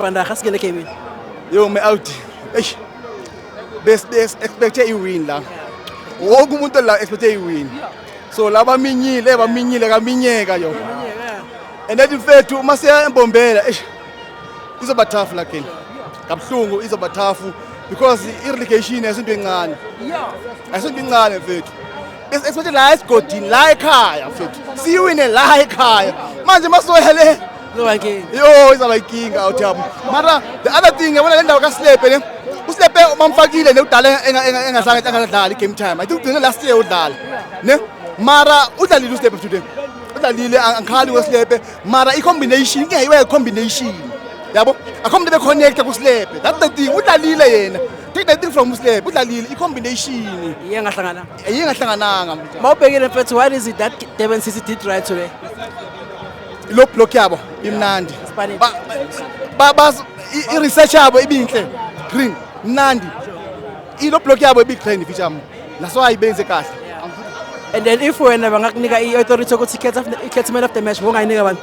Banda gasikele game. Yo me out. Eish. Bes bes expecte i win la. Wonke umuntu la expecte i win. So laba minyile baminyile kaminyeka yo. And then mfethu uma siya embombela eish. Izoba tough la kini. Kabhlungu izoba tough because i-relegation asinto encane. Asinto incane mfethu. Esithi la esigodini la ekhaya mfethu. Siwine la ekhaya. Manje masoya le Zoba nkinga. yo izaba inkinga awuthamu. Mara the other thing yabona le ndawo kaSlepe le. USlepe umamfakile nekudala enga- enga- engahlanga engadlali game time. I think ugcine last year udlala. Ne? Mara udlalile uSlepe today. Udlalile ang- angikhali weSlepe. Mara i-combination inkinga iwe combination. Yabo? Akho umuntu ebeconnecta kuSlepe. That's the thing. Udlalile yena. Take that thing from Muslep, udlalile i-combination. Iye ngahlangana. Iye ngahlangananga. Mawubhekile mfethu, what is it that Durban City did right today? Lo block yabo imnandi. Spanish. Ba ba- bas- i- i-research yabo ibinhle. Green, mnandi. Ilo block yabo ibigreen ifitshamo. Naso ayibenze kahle. And then if wena bangakunika i-authority yokuthi ikhethe after- ikhethe man of the match, bongayinika abantu.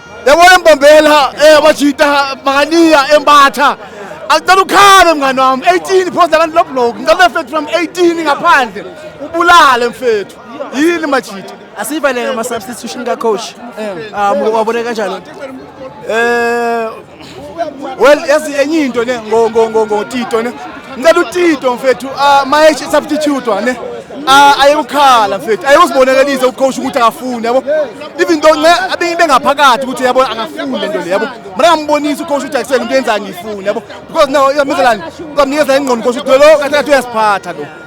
Yabona embombela eh abajita makaniya embatha. Angicela ukhale mngani wami 18 phosta kanti lo block. Ngicela mfethu from 18 ngaphandle. Ubulale mfethu. Yini majita? Asivalele ama substitution ka coach. Eh. Ah wabone kanjani? Eh well yazi enye into ne ngo ngo ngo ngo Tito ne ngicela uTito mfethu ah, my substitute ne ah, ayekukhala mfethu ayekuzibonakalisa ucoach ukuthi akafuni yabo even though nce abingi bengaphakathi ukuthi yabo akafuni lento le yabo mina ngambonisa ucoach ukuthi akusele into yenza ngifuni yabo because now yamezalani kamnikeza ingqondo coach ukuthi lo kathi kathi uyasiphatha lo